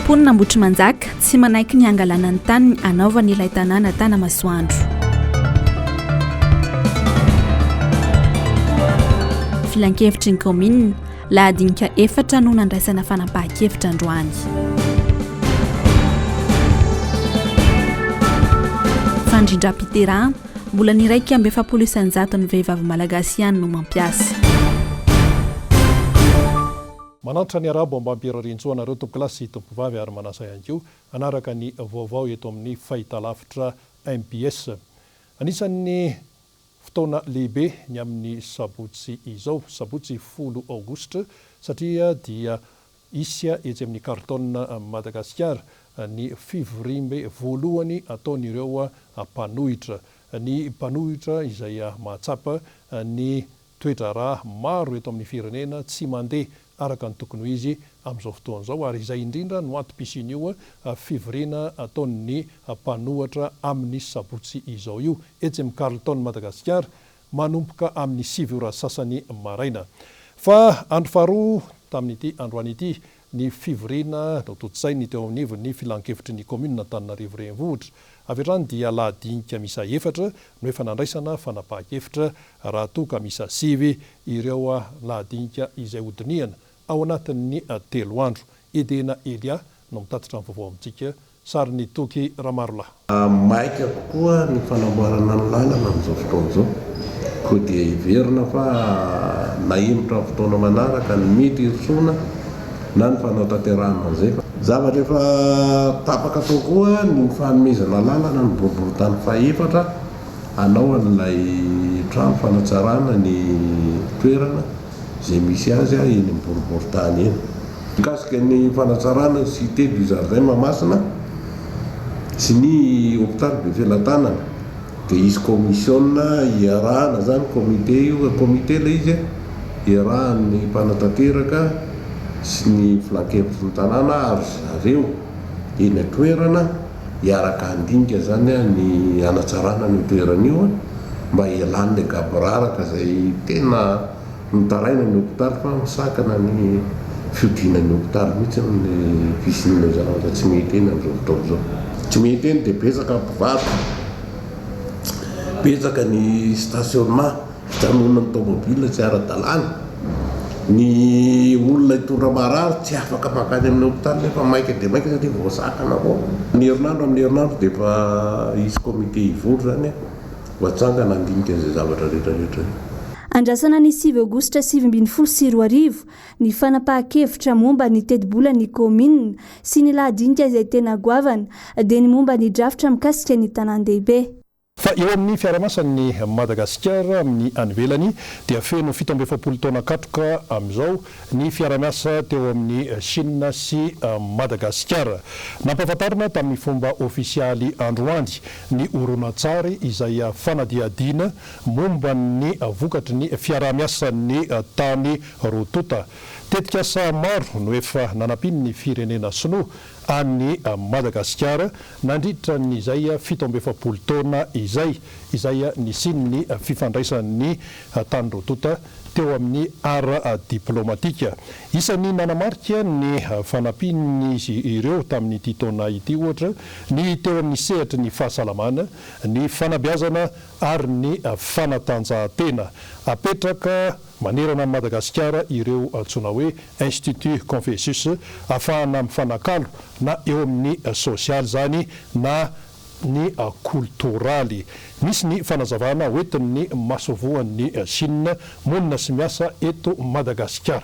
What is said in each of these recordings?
Mponina Ambohitrimanjaka tsy manaiky ny hangalana ny taniny hanaovany ilay tanàna Tanamasoandro. Filankevitry ny kaominina, lahadinika efatra no nandraisana fanapahan-kevitra androany. Fandrindram-piterahana, Mbola ny iraika amby efapolo isan-jaton'ny vehivavy malagasy ihany no mampiasa. Manantra ny Arabo Ambam-pirarian-tsoa anareo tompokolahy sy tompokovavy ary manasa ihany koa hanaraka ny vaovao eto amin'ny Fahitalavitra mbs. Anisan'ny fotoana lehibe ny amin'ny sabotsy izao, sabotsy folo aogositra satria dia Hisy etsy amin'ny Carlton Madagasikara ny fivoriambe voalohany ataon'ireo mpanohitra. Ny mpanohitra izay mahatsapa ny toe-draharaha maro eto amin'ny firenena tsy mandeha araka ny tokony ho izy amin'izao fotoana izao ary izay indrindra no antom-pisian'io fivoriana ataon'ny mpanohatra amin'ny sabotsy izao io etsy amin'ny Carlton Madagasikara manomboka amin'ny sivy ora sasany maraina. Fa andro faharoa tamin'ity androany ity, ny fivoriana notontosainy teo anivon'ny Filan-kevitry ny Kaominina Antananarivo Renivohitra. Avy hatrany dia lahy dinika miisa efatra no efa nandraisana fanapahan-kevitra raha toa ka miisa sivy ireo lahy dinika izay hodinihana ao anatin'ny telo andro. Edena Elia no mitatitra ny vaovao amintsika Sarin'i Toky Ramarolahy. Maika kokoa ny fanamboarana ny lalana amin'izao fotoana izao, koa dia heverina fa nahemotra amin'ny fotoana manaraka ny mety hirosoana na ny fanao tanterahana an'izay fa. Zavatra efa tapaka tao koa ny fanomezana lalana ny boriborintany fahefatra hanao an'ilay trano fanatsarana ny toerana. izay misy azy eny amin'ny boriborintany eny. Mikasika ny fanatsarana Cité du Jardin Mahamasina sy ny Hopitaly Befelatanana dia hisy kaomisiona iarahana izany, comité io e, comité ilay izy e, iarahan'ny mpanatanteraka sy ny Filankevitry ny tanàna ary ry zareo eny an-toerana. hiaraka handinika zany ny hanatsarana an'io toerana io mba hialan'ny angaboraraka izay tena mitaraina ny hopitaly fa misakana ny fiodinan'ny hopitaly mihitsy ny fisian'ilay zavatra tsy mety eny amin'izao fotoana izao. Tsy mety eny dia betsaka ny mpivady, betsaka ny stationnement. Fijanonan'ny tomobilina tsy ara-dalàna, ny olona hitondra marary tsy afaka mankany amin'ny hopitaly nefa maika dia maika satria voasakana foana. Ny herinandro amin'ny herinandro dia efa hisy comité hivory izany mba hatsangana handinika izay zavatra rehetrarehetra izay. Andrasana ny sivy aogositra sivy ambin'ny folo sy roa arivo ny fanapahan-kevitra momba ny tetibolan'ny kaominina sy ny lahadinika izay tena goavana dia ny momba ny drafitra mikasika ny tanàn-dehibe. Fa eo amin'ny fiarahamasan'ny Madagasikara amin'ny any ivelany dia feno fito amby efapolo taona katroka amin'izao ny fiaraha-miasa teo amin'i Shina sy Madagasikara. Nampahafantarina tamin'ny fomba ofisialy androany ny horonantsary izay fanadihadiana momba ny vokatry ny fiaraha-miasan'ny tany roa tonta. Tetikasa maro no efa nanampian'ny firenena sinoa any Madagasikara nandritra an'izay fito amby efapolo taona izay, izay nisian'ny fifandraisan'ny tany roa tonta teo amin'ny ara-diplaomatika. Isan'ny nanamarika ny fanampian'izy ireo tamin'ity taona ity, ohatra, ny teo amin'ny sehatry ny fahasalamana, ny fanabeazana ary ny fanatanjahantena, apetraka Manerana an'i Madagasikara ireo antsoina hoe Institut Confucius afahana mifanakalo na eo amin'ny sosialy izany na ny kolotoraly. Misy ny fanazavana hoentin'ny masoivohon'i Chine monina sy miasa eto Madagasikara.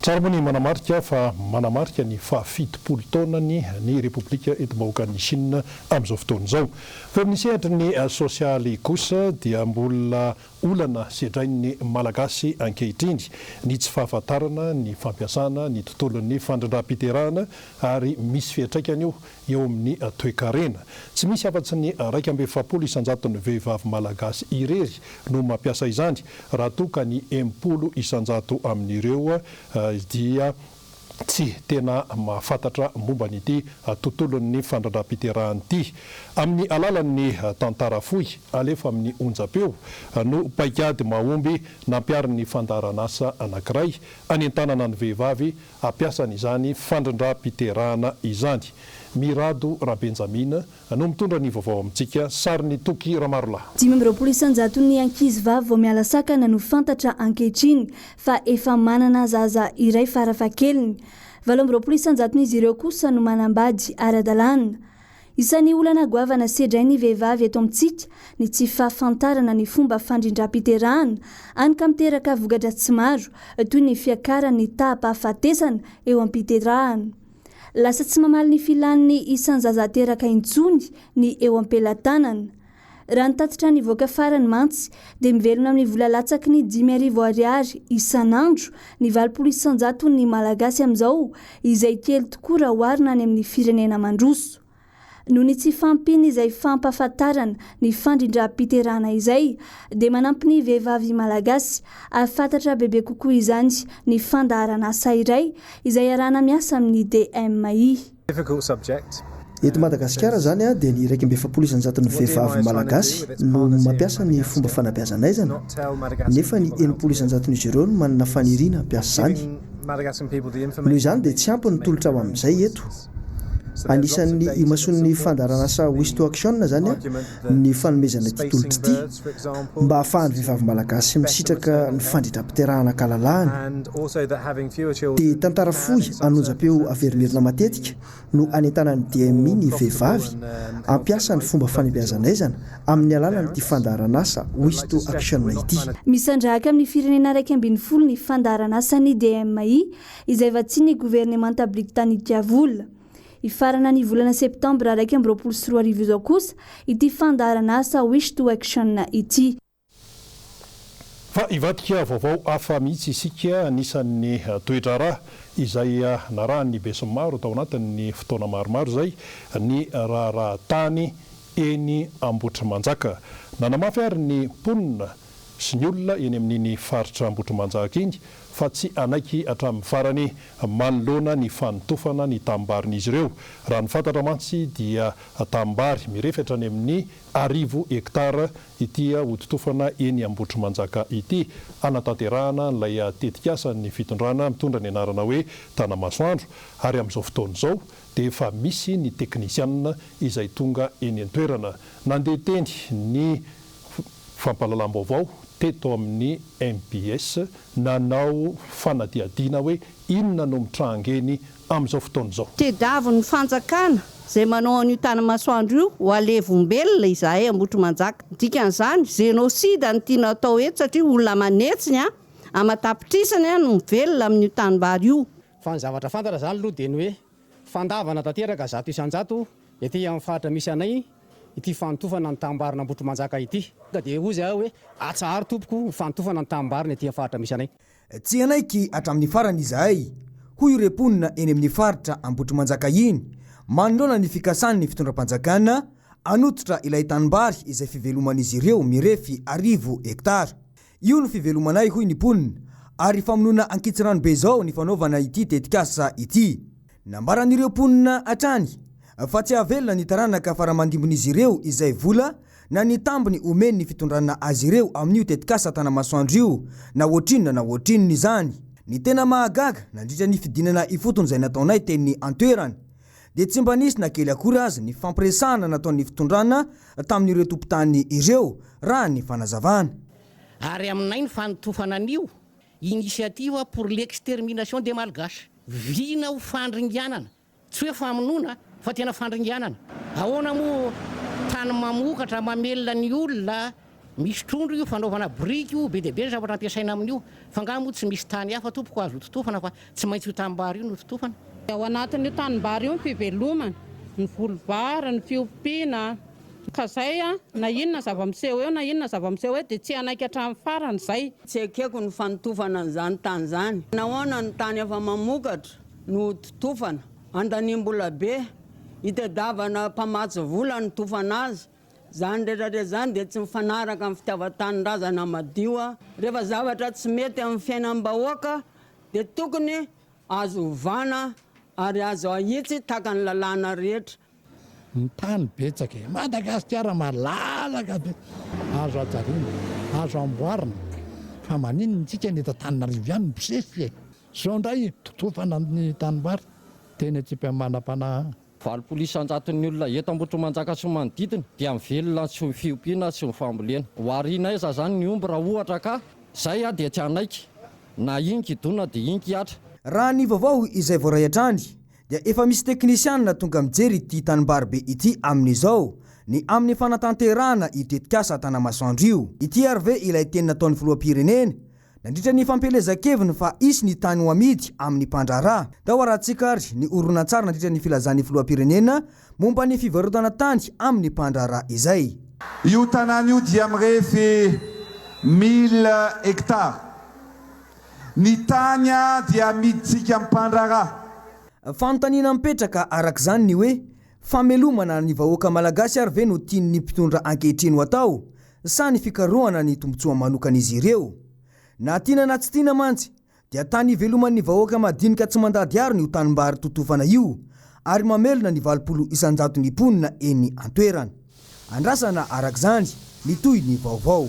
Tsara moa ny manamarika fa manamarika ny fahafitopolo taonany ny Repoblika Enti-bahoakan'i Shina amin'izao fotoana izao. Eo amin'ny sehatry ny sosialy kosa dia mbola olana sedrain'ny Malagasy ankehitriny ny tsy fahafantarana ny fampiasana ny tontolon'ny fandrandram-piterahana ary misy fiantraikany io eo amin'ny toekarena. Tsy misy afa-tsy ny iraika amby efapolo isan-jaton'ny vehivavy malagasy irery no mampiasa izany, raha toa ka ny enimpolo isan-jato amin'ireo dia tsy tena mahafantatra momba an'ity tontolon'ny fandrandram-piterahana ity. Amin'ny alalan'ny tantara fohy alefa amin'ny onjam-peo no paikady mahomby nampiharin'ny fandaharanasa anankiray hanentanana ny vehivavy ampiasany izany fandrindram-piterahana izany. Mirado Rabenjamina no mitondra ny vaovao amintsika, sarin'i Toky Ramarolahy. Dimy amby roapolo isan-jaton'ny ankizivavy vao miala sakana no fantatra ankehitriny fa efa manana zaza iray farafahakeliny. Valo amby roapolo isan-jaton'izy ireo kosa no manambady ara-dalàna. Isan'ny olana goavana sedrain'ny vehivavy eto amintsika ny tsy fahafantarana ny fomba fandrindram-piterahana, hany ka miteraka voka-dratsy maro, toy ny fiakaran'ny taham-pahafatesana eo am-piterahana. Lasa tsy mamaly ny filan'ny isan-jaza ateraka intsony ny eo am-pelatanana. Raha ny tatitra nivoaka farany mantsy dia mivelona amin'ny vola latsaky ny dimy arivo ariary isan'andro ny valopolo isan-jaton'ny Malagasy amin'izao, izay kely tokoa raha oharina any amin'ny firenena mandroso. Noho ny tsy fahampian'izay fampahafantarana ny fandrindram-piterahana izay dia manampy ny vehivavy Malagasy hahafantatra bebe kokoa izany ny fandaharan'asa iray izay iarahana miasa amin'ny DMI. Eto Madagasikara izany dia ny iraika amby efapolo isan-jaton'ny vehivavy malagasy no mampiasa ny fomba fanabeazan'aizana, nefa ny enimpolo isan-jaton'izy ireo no manana faniriana hampiasa izany. Noho izany dia tsy ampy ny tolotra ho amin'izay eto. Anisan'ny imasoan'ny fandaharanasa WistoAction izany. ny fanomezana ity tolotra ity mba hahafahan'ny vehivavy malagasy misitraka ny fandrindram-piterahana an-kalalahana dia tantara fohy an'onjam-peo averimerina matetika no anentanan'ny DMI ny vehivavy hampiasa ny fomba fanebehazan'aizana amin'ny alalan'ity fandaharan'asa Wisto Action ity. Misandrahaka amin'ny firenena iraika ambin'ny folo ny fandaharan'asan'ny DMI izay vatsian'ny governemanta britanika vola. Hifarana ny volana septambra iraika amby roapolo sy roa arivo izao kosa ity fandaharanasa Wish to Action ity. Fa hivadika vaovao hafa mihitsy isika anisan'ny toe-draharaha izay narahan'ny besinimaro tao anatin'ny fotoana maromaro izay ny raharaha tany eny Ambohitrimanjaka. Nanamafy ary ny mponina sy ny olona eny amin'iny faritra Ambohitrimanjaka iny fa tsy hanaiky hatramin'ny farany manoloana ny fanotofana ny tanim-barin'izy ireo. Raha ny fantatra mantsy dia tanim-bary mirefy hatrany amin'ny arivo hektara ity hototofana eny Ambohitrimanjaka ity. Hanatanterahana an'ilay tetikasan'ny fitondrana mitondra ny anarana hoe Tanamasoandro ary amin'izao fotoana izao dia efa misy ny teknisianina izay tonga eny an-toerana. Nandeha teny ny fampahalalam-baovao teto amin'ny mbs nanao fanadihadiana hoe inona no mitranga eny amin'izao fotoana izao. Tediavin'ny fanjakana izay manao an'io tanimasoandro io ho alevombelona izahay Ambohitrimanjaka. Ny dikan'izany, Génocide ny tiana atao eto satria olona aman'hetsiny, aman-tapitrisany no mivelona amin'io tanimbary io. Fa ny zavatra fantatra izany aloha dia ny hoe. Fandavana tanteraka zato isan-jato ety amin'ny faritra misy anay ity fanotofana ny tanimbarin'Ambohitrimanjaka ity. Tonga dia hoy izy ahy hoe, Atsaharo tompoko ny fanotofana ny tanimbarina ety amin'ny faritra misy anay. Tsy hanaiky hatramin'ny farany izahay, hoy ireo mponina eny amin'ny faritra Ambohitrimanjaka iny, manoloana ny fikasan'ny fitondram-panjakana hanototra ilay tanimbary izay fiveloman'izy ireo mirefy arivo hektara. Io no fivelomanay hoy ny mponina ary famonoana ankitsirano be izao ny fanaovana ity tetikasa ity. Nambaran'ireo mponina hatrany fa tsy hahavelona ny taranaka faramandimbin'izy ireo izay vola na ny tambiny omen'ny fitondrana azy ireo amin'io tetikasa Tanamasoandro io na ohatrinona na ohatrinona izany. Ny tena mahagaga, nandritra ny fidinana ifotony izay nataonay teny an-toerana dia tsy mba nisy na kely akory aza ny fampiresahana nataon'ny fitondrana tamin'ireo tompon-tany ireo, raha ny fanazavana. Ary aminay ny fanotofana an'io Initiative pour l'extermination des Malgaches. Vina ho fandringanana, tsy hoe famonoana fa tena fandringanana. Ahoana moa tany mamokatra, mamelona ny olona Misy trondro io fanaovana biriky io be dia be ny zavatra ampiasaina amin'io fa nga moa tsy misy tany hafa tompoko azo hototofana fa tsy maintsy io tanimbary io no hototofana? Dia ao anatin'io tanimbary io ny fivelomana, ny volom-bary, ny fiompiana, ka izay na inona zava-miseho eo na inona zava-miseho eo dia tsy hanaiky hatramin'ny farany izay. Tsy ekeko ny fanotofana an'izany tany izany. Nahoana ny tany efa mamokatra no hototofana? Andaniam-bola be. Itadiavana mpamatsy vola ny tofana azy Izany rehetra rehetra izany dia tsy mifanaraka amin'ny fitiavan-tanindrazana madio. Rehefa zavatra tsy mety amin'ny fiainam-bahoaka dia tokony azo ovana ary azo ahitsy tahaka ny lalàna rehetra. Ny tany betsaka e! Madagasikara malalaka be! Azo hajariana, azo hamboarina fa maninona antsika ny eto Antananarivo ihany no mpisefy e! Zao indray totofana ny tanimbary dia eny an-tsipy amin'ny manam-panahy. Valopolo isan-jaton'ny olona eto Ambohitrimanjaka sy ny manodidina dia mivelona tsy ho fiompiana sy ny fambolena. Ho ariana aiza izany ny omby raha ohatra ka izay aho dia tsy hanaiky na ingy hidona dia ingy hiatra. Raha ny vaovao izay voaray hatrany dia efa misy teknisianina tonga mijery ity tanimbary be ity amin'izao ny amin'ny fanatanterahana io tetikasa Tanamasoandro io. Ity ary ve ilay teny nataon'ny filoham-pirenena Nandritra ny fampielezan-keviny fa hisy ny tany ho amidy amin'ny mpandraharaha, tao Harantsika ary ny horonantsary nandritra ny filazan'ny filoham-pirenena momba ny fivarotana tany amin'ny mpandraharaha izay. Io tanàna io dia mirefy mille hectares. Ny tany dia amidintsika mpandraharaha. Fanontaniana mipetraka araka izany ny hoe, famelomana ny vahoaka malagasy ary ve no tian'ny mpitondra ankehitriny ho atao? sa ny fikarohana ny tombontsoa manokan'izy ireo? Na tiana na tsy tiana mantsy, dia tany iveloman'ny vahoaka madinika tsy mandady arina io tanimbary totofana io, ary mamelona ny valopolo isan-jaton'ny mponina eny an-toerana. Andrasana, araka izany, ny tohin'ny vaovao.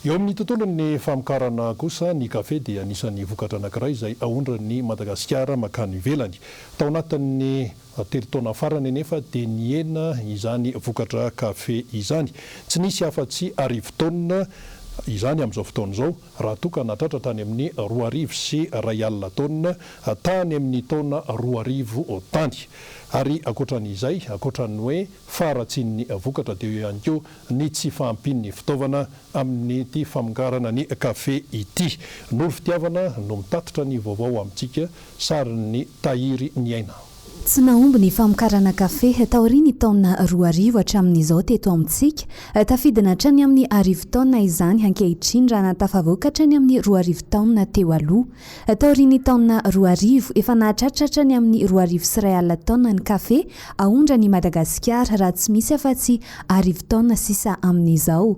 Eo amin'ny tontolon'ny famokarana kosa, ny kafe dia anisan'ny vokatra anankiray izay aondran'i Madagasikara mankany ivelany. Tao anatin'ny Telo taona farany anefa dia nihena izany vokatra kafe izany. Tsy nisy afa-tsy arivo taonina izany amin'izao fotoana izao, raha toa ka natratra tany amin'ny roa arivo sy iray alina taonina tany amin'ny taona roa arivo tany. Ary ankoatran'izay, ankoatran'ny hoe faharatsian'ny vokatra dia eo ihany koa ny tsy fahampian'ny fitaovana Amin'ity famongarana ny kafe ity, Noro Fitiavana no mitatitra ny vaovao amintsika, sarin'i Tahiry Niaina. Tsy nahomby ny famokarana kafe taorian'ny taona roa arivo hatramin'izao teto amintsika. Tafidina hatrany amin'ny arivo taona izany ankehitriny raha nahatafavoaka hatrany amin'ny roa arivo taona teo aloha. Taorian'ny taona roa arivo, efa nahatratra hatrany amin'ny roa arivo sy iray alina taona ny kafe aondran' i Madagasikara, raha tsy misy afa-tsy arivo taona sisa amin'izao.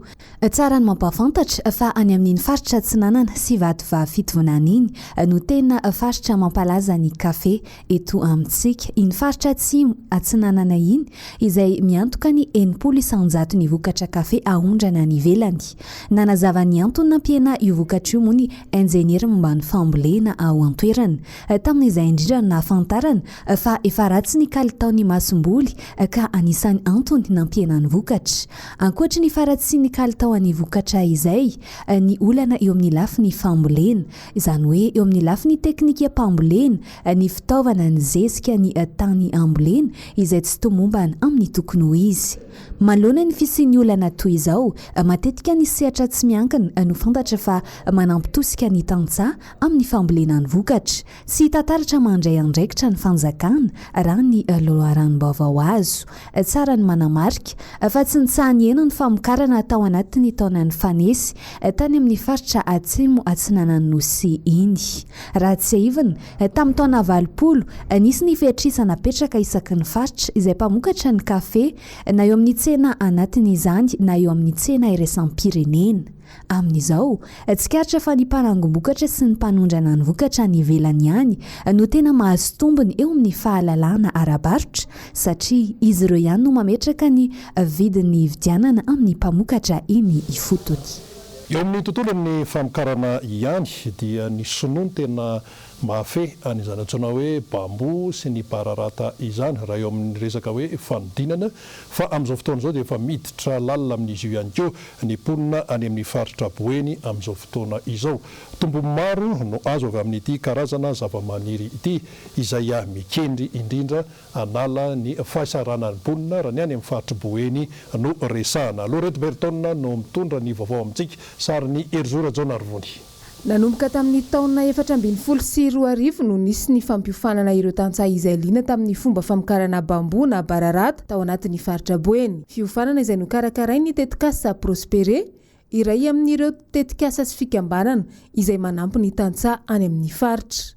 Tsara ny mampahafantatra fa any amin'iny faritra Atsinanana sy Vatovavy Fitovinany iny no tena faritra mampalaza ny kafe eto amintsika, iny faritra atsimo atsinanana iny, izay miantoka ny enimpolo isan-jato ny vokatra kafe aondrana any ivelany. Nanazava ny antony nampihenà io vokatra io moa ny injeniera momba ny fambolena ao an-toerana. Tamin'izay indrindra no nahafantarana fa efa ratsy ny kalitaon'ny masomboly ka anisan'ny antony nampihena ny vokatra. Ankoatry ny faharatsian'ny kalitaon'ny vokatra izay, ny olana eo amin'ny lafiny fambolena, izany hoe eo amin'ny lafiny teknikam-pambolena, ny fitaovana ny zezika ny tany ambolena izay tsy tomombana amin'ny tokony ho izy. Manoloana ny fisian'ny olana toy izao, matetika ny sehatra tsy miankina no fantatra fa manampy tosika ny tantsaha amin'ny fambolena ny vokatra. Tsy hita taratra mandray andraikitra ny fanjakana raha ny loharanom-baovao azo. Tsara ny manamarika, fa tsy nitsaha-nihena ny famokarana tao anatin'ny taona nifanesy, tany amin'ny faritra Atsimo Atsinanan'ny Nosy iny. Raha tsiahivina, tamin'ny taona valopolo, nisy ny fehitr'isa napetraka isaky ny faritra izay mpamokatra ny kafe, na eo amin'ny tsena anatiny izany na eo amin'ny tsena iraisam-pirenena. Amin'izao, tsikaritra fa ny mpanangom-bokatra sy ny mpanondrana ny vokatra any ivelany ihany no tena mahazo tombony eo amin'ny fahalalahana ara-barotra satria izy ireo ihany no mametraka ny vidiny hividianana amin'ny mpamokatra eny ifotony. Eo amin'ny tontolon'ny famokarana ihany dia ny sinoa no tena mahafehy an'izany antsoina hoe bamboo sy ny bararata izany raha eo amin'ny resaka hoe fanodinana Fa amin'izao fotoana izao dia efa miditra lalina amin'izy io ihany koa ny mponina any amin'ny faritra Boeny amin'izao fotoana izao. Tombony maro no azo avy amin'ity karazana zavamaniry ity izay mikendry indrindra hanala ny fahasahiranan'ny mponina raha ny any amin'ny faritr'i Boeny no resahana. Laurette Berton no mitondra ny vaovao amintsika, sarin'i Herizo Rajaonarivony. Nanomboka tamin'ny taona efatra ambin'ny folo sy roa arivo no nisy ny fampiofanana ireo tantsaha izay liana tamin'ny fomba famokarana bambou na bararata tao anatin'ny faritra Boeny. Fiofanana izay nokarakarain'ny tetikasa Prospere, iray amin'ireo tetikasa sy fikambanana izay manampy ny tantsaha any amin'ny faritra.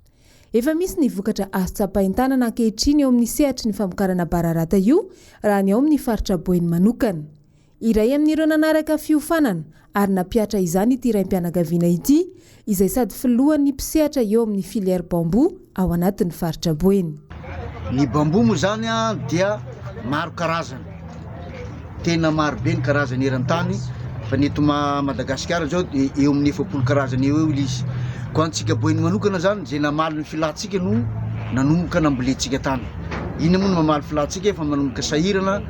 Efa misy ny vokatra azo tsapain-tanana ankehitriny eo amin'ny sehatry ny famokarana bararata io raha ny ao amin'ny faritra Boeny manokana. Iray amin'ireo nanaraka fiofanana ary nampihatra izany ity raim-pianakaviana ity, izay sady filohan'ny mpisehatra eo amin'ny filière bambou ao anatin'ny faritra Boeny. Ny bambou moa izany dia maro karazana, tena maro be ny karazany eran-tany fa ny eto Madagasikara izao dia eo amin'ny efapolo karazana eo eo ilay izy. Koa antsika Boeny manokana izany izay namaly ny filantsika no nanomboka nambolentsika tany. Inona moa no mamaly filantsika fa manomboka sahirana.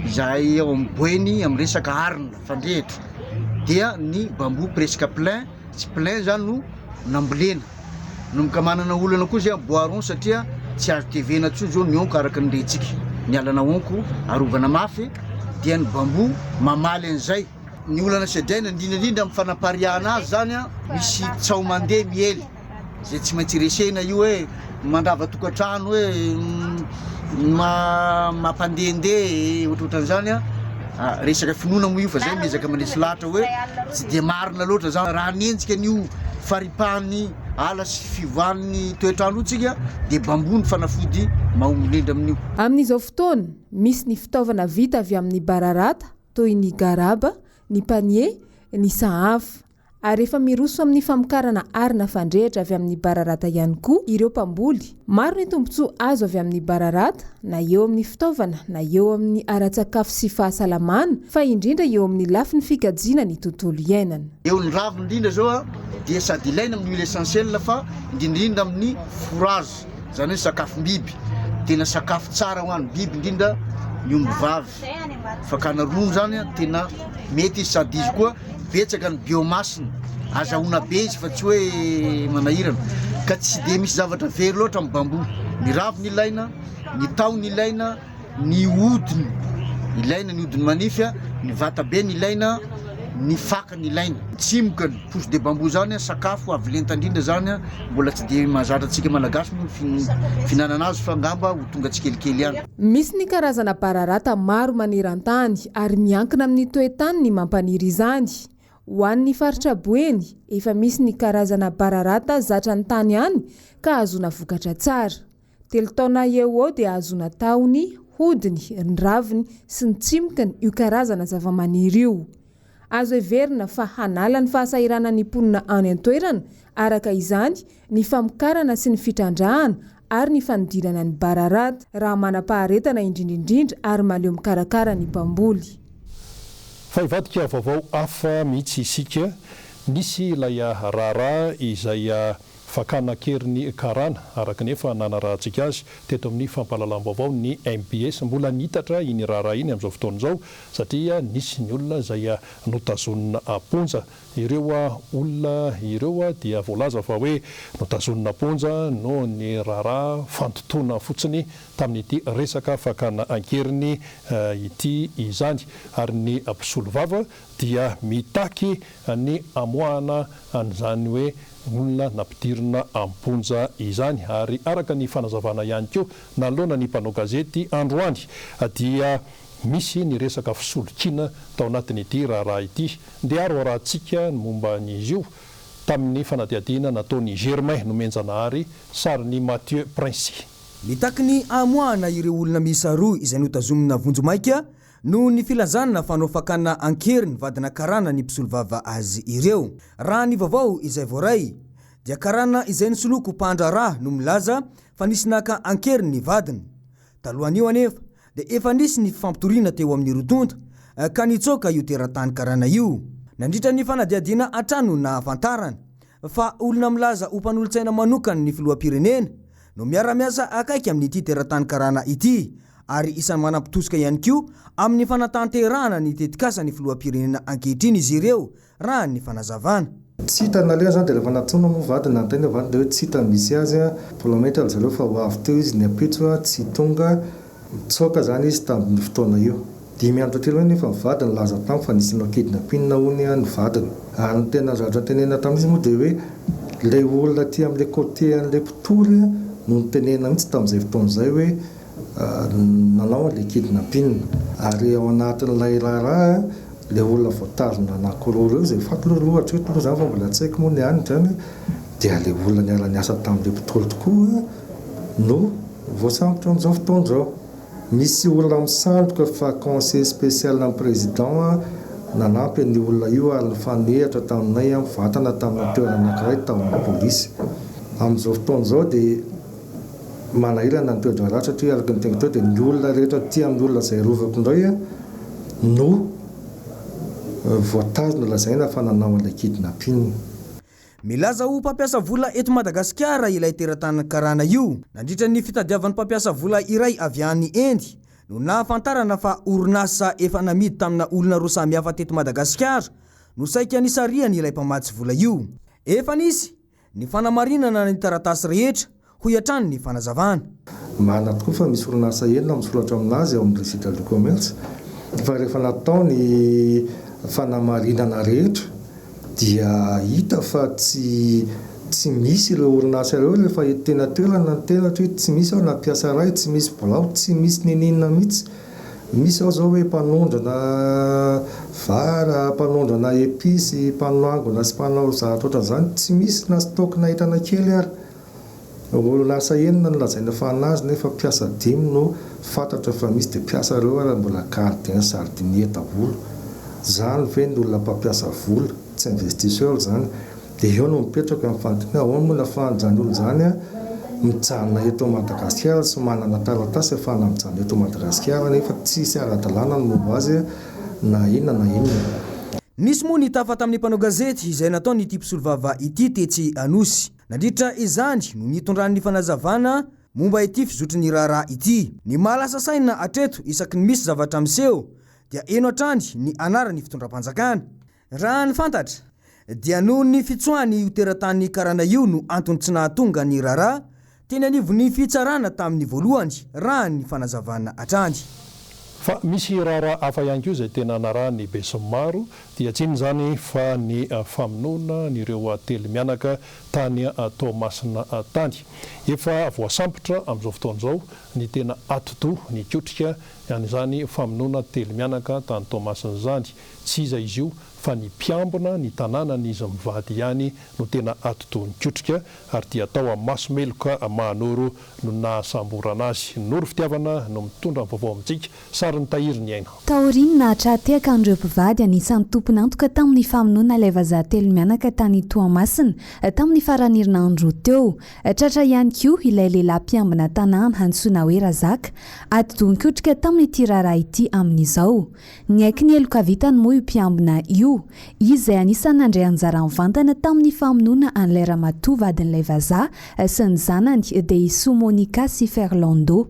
izay ao amin'ny boeny amin'ny resaka arina fandrehitra dia ny bambou presque plein tsy plein zany no nambolena nomboka manana olana koa izay bois rond satria tsy azo tevena tsoa zao ny onko araka ny rentsika ny alana onko arovana mafy dia ny bambou mamaly an'izay ny olana sedraina indrindra indrindra amin'ny fanapariahana azy zany a misy tsaho mandeha miely Izay tsy maintsy resena io hoe mandrava tokantrano hoe mampandehandeha ohatrohatran'izany a ah, resaka finoana moa io fa zay miezaka manisy lahatra hoe tsy dia marina loatra zany raha nenjika an'io faripahan'ny ala sy fiovan'ny toetrandro tsika dia bambony fanafody mahomolendra amin'io. Amin'izao fotoana, misy ny fitaovana vita avy amin'ny bararata toy ny garaba, ny panier, ny sahafa. ary efa miroso amin'ny famokarana arina fandrehitra avy amin'ny bararata ihany koa ireo mpamboly. Maro ny tombontsoa azo avy amin'ny bararata, na eo amin'ny fitaovana, na eo amin'ny ara-tsakafo sy fahasalamana, fa indrindra eo amin'ny lafiny fikajiana ny tontolo iainana. Eo ny raviny indrindra izao dia sady ilaina amin'ny huile essentielle fa indrindrindra amin'ny fourrage, izany hoe sakafom-biby. Tena sakafo tsara ho an'ny biby indrindra ny ombivavy. Fakana rony zany a tena mety izy sady izy koa betsaka ny biomasse-ny, azahoana be izy fa tsy hoe manahirana ka tsy dia misy zavatra very loatra amin'ny bambou, ny raviny ilaina, ny tahony ilaina, ny hodiny ilaina, ny hodiny manify a, ny vatabeny ilaina, ny fakany ilaina. Tsimoka ny pousse de bambou zany a, sakafo avo lenta indrindra zany a, mbola tsy dia mahazatra antsika Malagasy moa ny fihinanana azy fa angamba ho tonga tsikelikely ihany. Misy ny karazana bararata maro maneran-tany ary miankina amin'ny toe-tany ny mampaniry izany. Ho an'ny faritra Boeny, efa misy ny karazana bararata zatra ny tany any ka ahazoana vokatra tsara. Telo taona eo ho eo dia ahazoana tahony, hodiny, ny raviny sy ny tsimokiny io karazana zavamaniry io. Azo heverina fa hanala ny fahasahiranan'ny mponina any an-toerana, araka izany, ny famokarana sy ny fitrandrahana ary ny fanidirana ny bararata, raha manam-paharetana indrindra indrindra ary mahaleo mikarakara ny mpamboly. Fa hivadika vaovao hafa mihitsy isika. Nisy ilay raharaha izay. Fakana an-keriny karana, araka ny efa nanarahantsika azy teto amin'ny fampahalalam-baovao ny mbs. Mbola niitatra iny raharaha iny amin'izao fotoana izao satria nisy ny olona izay notazonina am-ponja. Ireo olona ireo dia voalaza fa hoe notazonina am-ponja noho ny raharaha fandotoana fotsiny tamin'ity resaka fakana an-keriny ity izany ary ny mpisolovava dia mitaky ny amoahana an'izany hoe olona nampidirina am-ponja izany ary araka ny fanazavana ihany koa nanoloana ny mpanao gazety androany dia misy ny resaka fisolokiana tao anatin'ity raharaha ity. Ndeha raorahantsika ny momba an'izy io tamin'ny fanadihadiana nataon'i Germain Nomenjanahary, sarin'i Mathieu Princey. Mitaky ny hamoahana ireo olona miisa roa izay notazomina vonjimaika Noho ny filazana fanao fakana an-kery ny vadina karana ny mpisolovava azy ireo. Raha ny vaovao izay voaray, dia karana izay nisoloako mpahandraharaha no milaza fa nisy naka an-kery ny vadiny. Talohan'io anefa dia efa nisy ny fifampitoriana teo amin'ny roa tonta ka nitsoaka io teratany karana io. Nandritra ny fanadihadiana hatrany no nahafantarana. fa olona milaza ho mpanolotsaina manokan' ny filoham-pirenena no miara-miasa akaiky amin' ity teratany karana ity ary isany manam-pitosika ihany koa amin' ny fanatanterahana ny tetikasan' ny filoham-pirenena ankehitriny izy ireo, raha ny fanazavana. Tsy hita naleha izany dia rehefa natsoina moa vady na an-tegna vady dia hoe tsy hita ny misy azy, mbola mainka ry zareo fa ho avy teo izy ny ampitso tsy tonga Nitsoaka izany izy tamin'io fotoana io. Dimy andro taty aoriana anefa ny vadiny nilaza tamiko fa nisy no-kidnapping hono ny vadiny. Ary ny tena zatra notenenina tamin'izy moa dia hoe ilay olona aty amin'ilay côté an'ilay mpitory no nitenenina mihitsy tamin'izay fotoana izay hoe nanao an'ilay kidnapping. Ary ao anatin'ilay raharaha ilay olona voatazona anankiroa ireo, izay fantany aloha hatreto aloha izany fa mbola tsy haiko moa ny any izany, dia ilay olona niara-niasa tamin'ilay mpitory tokoa. no voasambotra amin'izao fotoana izao. Misy olona misandoka fa conseiller spécial an'ny président nanampy an'io olona io ary nifanehatra taminay mivantana tamina toerana anankiray tao amin'ny polisy. Amin'izao fotoana izao dia manahirana ny toe-draharaha satria araka ny teniko teo dia ny olona rehetra aty amin'ny olona izay arovako indray no voatazona lazaina fa nanao an'ilay kidnapping. Milaza ho mpampiasa vola eto Madagasikara ilay teratany karana io. Nandritra ny fitadiavany mpampiasa vola iray avy any Inde no nahafantarana fa orinasa efa namidy tamina olona roa samihafa teto Madagasikara no saika nisarihany ilay mpamatsy vola io. Efa nisy ny fanamarinana ny taratasy rehetra, hoy hatrany ny fanazavana. Marina tokoa fa misy orinasa enina misoratra amin'azy ao amin'ny Registre du Commerce fa rehefa natao ny fanamarinana rehetra dia hita fa tsy tsy misy ireo orinasa ireo rehefa ety teny an-toerana ny tenatra hoe tsy misy aho na mpiasa iray, tsy misy birao, tsy misy niniana mihitsy. Misy ao izao hoe mpanondrana vary, mpanondrana episy, mpanangona sy mpanao zavatra ohatran'izany, tsy misy na stock-na entana kely ary. Olonasa enina no lazaina fa nazy nefa mpiasa dimy no fantatra fa misy dia mpiasa ireo ary mbola gardien jardinier daholo. Zany ve ny olona mpampiasa vola, tsy investisseur zany, dia eo no mipetraka ny fanontaniana ahoana moa no afahan'izany olona izany an mijanona eto Madagasikara sy manana taratasy afahana mijanona eto Madagasikara nefa tsisy aradalana ny momba azy na inona na inona. Nisy moa ny tafa tamin'ny mpanao gazety izay nataon'ity mpisolovava ity tetsy Anosy. Nandritra izany no nitondrany ny fanazavana momba ity fizotry ny raharaha ity. Ny maha lasa saina hatreto isaky ny misy zavatra miseho dia eno hatrany ny anaran'ny fitondram-panjakana. Raha ny fantatra dia noho ny fitsoahany io teratany karana io no antony tsy nahatonga ny raharaha teny anivon'ny fitsarana tamin'ny voalohany raha ny fanazavana hatrany. Fa misy raharaha hafa ihany koa izay tena narahan'ny besinimaro Dia tsy inona izany fa ny famonoana an'ireo telo mianaka tany Toamasina tany. Efa voasambotra amin'izao fotoana izao ny tena atidoha nikotrika an'izany famonoana telo mianaka tany Toamasina izany. Tsy iza izy io fa ny mpiambina ny tanànan'izy mivady ihany no tena atidoha nikotrika ary dia tao Amasomeloka Mahanoro no nahasamborana azy. Noro fitiavana no mitondra ny vaovao amintsika Sarin'i Tahiry ny aina. Taorian'ny naha-tra-tehaka an'ireo mpivady, anisan'ny tompon'antoka tamin'ny famonoana ilay vazaha telo mianaka tany Toamasina, tamin'ny faran'ny herinandro teo. Tratra ihany koa ilay lehilahy mpiambina tanàna antsoina hoe Razaka, ady dohan-kotrika tamin'ity raharaha ity amin'izao. Niaiky ny heloka vitany moa io mpiambina io, izy izay anisan'ny nandray anjara mivantana tamin'ny famonoana an'ilay ramatoa vadin'ilay vazaha sy ny zanany, Deisoa Monica sy Ferlando.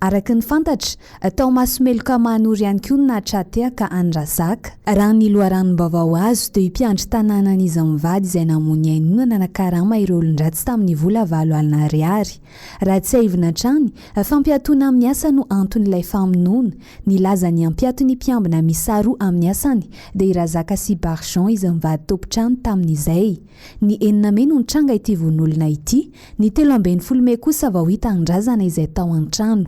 Araka ny fantatra, tao Masomeloka Mahanoro ihany koa no nahatratehaka an'i Razak. Raha ny loharanom-baovao azo dia io mpiandry tanànany iza mivady izay namoy ny ainy io no nanakarama ireo olon-dratsy tamin'ny vola valo alina ariary. Raha tsiahivina hatrany, fampiatoana amin'ny asa no anton'ilay famonoana. Nilaza ny hampiato ny mpiambina miisa roa amin'ny asany dia i Razak sy Barjon iza mivady tompon-trano tamin'izay. Ny enina mey no nitranga ity vononolona ity, ny telo ambin'ny folo mey kosa vao hita an-drazana izay tao an-trano.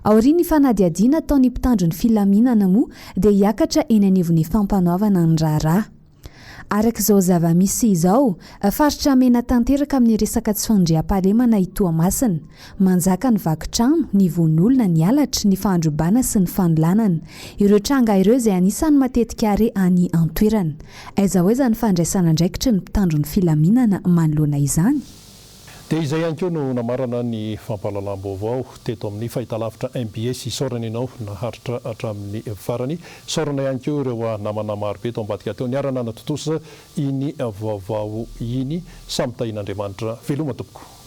Aorian'ny fanadihadiana ataon'ny mpitandro ny filaminana moa dia hiakatra eny anivon'ny fampanoavana ny raharaha. Araka izao zava-misy izao, faritra mena tanteraka amin'ny resaka tsy fandriampahalemana i Toamasina. Manjaka ny vaky trano, ny vononolona, ny halatra, ny fahandrobana sy ny fanolanana. Ireo tranga ireo izay anisan'ny matetika re any an-toerana. Aiza ho aiza ny fandraisan'andraikitry ny mpitandro ny filaminana manoloana izany? Dia izay ihany koa no namarana ny fampahalalam-baovao teto amin'ny fahitalavitra mbs. Isaorana ianao naharitra hatramin'ny farany. Isaorana ihany koa ireo namana marobe tao ambadika teo niara-nanatontosa iny vaovao iny. Samy tahian'Andriamanitra veloma tompoko.